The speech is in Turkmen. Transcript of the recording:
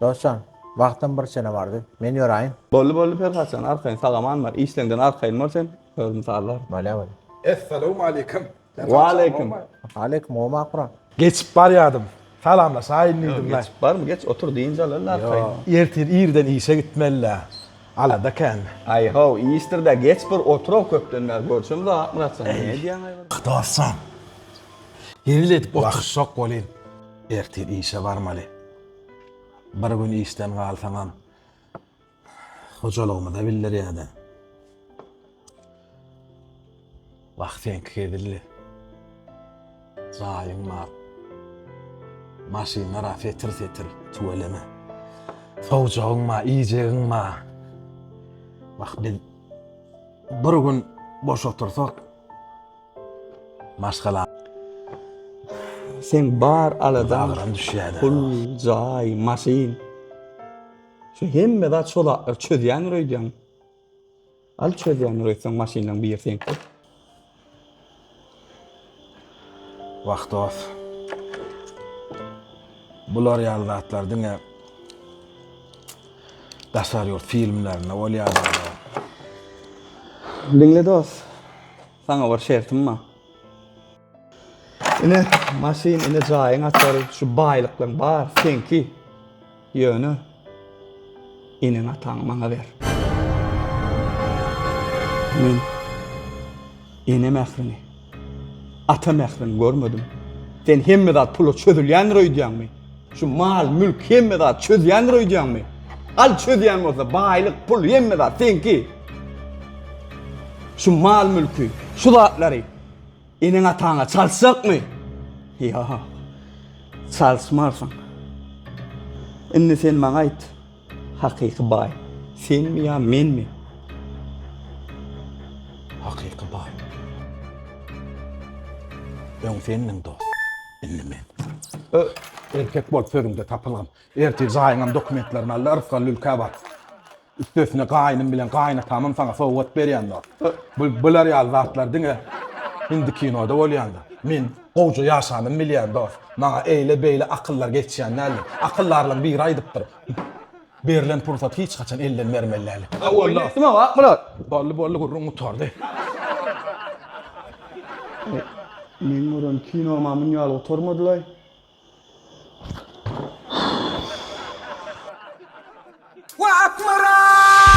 Dostjan, wagtam bir çene bardy. Men ýöräýin. Boldy, boldy Perhatjan, arkaýyn, sag-aman bar. Işleňden arkaýyn bor sen, özüm sallaryn. Bolýa, bolýa. Essalawmaleýkim. Waleýkim. Waleýkim, gowmy Akburam? Geçip barýardym. Salamlaşaýyn diýdim-le. Ýok, geçip barmy? Geç, otur, dynç alaryn arkaýyn. Ýok. Ertir irden işe gitmeli-le. Alada kän. Aý-how, işdir-dä, geç bir otur-ow, köpden bäri görşemizok Akmyratjan. Näme edýäň, aý, bir? Dostjan, hezil edip oturyşjak welin, ertir işe barmaly. Bir gün işden galsaňam hojalygymyza bildirýärdi. Wah seňki hezilli. Jaýyň bar. Maşynlar a setir setir tüweleme. Sowjagyň bar, iýjegiň bar. Wah biz bir gün boş otursak Maşgala. Sen bar aladan agram düşýär. Pul, jaý, maşyn. Şu hemme zat şol atlar çözýän öýdýän. Al çözýän öýsen maşynyň bir sen. Wagt dost. Bular ýaly zatlar diňe daşary ýurt filmlerinde bolýar. Diňle dost. Saňa bir şertim bar. Ine maşyn, ine jaýyň açary, şu baýlyklaň bar, seňki. Ýöne eneň ataňy maňa ber. Men ene mährini, ata mährini görmedim. Sen hemme zat pula çözülýändir öýdýäňmi? Şu mal, mülk hemme zat çözýändir öýdýäňmi? Al çözýän bolsa baýlyk, pul hemme zat seňki. Şu mal, mülki, şu zatlary eneň ataňa çalyşjakmy? Ýa. Çalyşmarsyň. Indi sen maňa aýt. Hakyky baý senmi ýa menmi? Hakyky baý. Öň sendiň dost, indi men. Ö, erkek bol sözüňde tapylgyn. Ertir jaýyňam dokumentlerini al-da Rysgal Lülkä bar. Üstesine gaýnym bilen gaýynatamam saňa sowgat berýändir. Ö, bul, bular ýaly zatlar diňe hindi kinoda bolýandyr. Men Gowja ýaşanym bilýän dost. Maňa eýle beýle akyllar geçýän däldi. Akyldarlaň biri aýdypdyr. Berlen pursat hiç haçan elden bermeli däl. Oýun etdim aga Akmyrat. Boldy boldy gürrüň gutardy. Meň gören kinomam muny ýaly gutarmadylaý. Wah Akmyrat!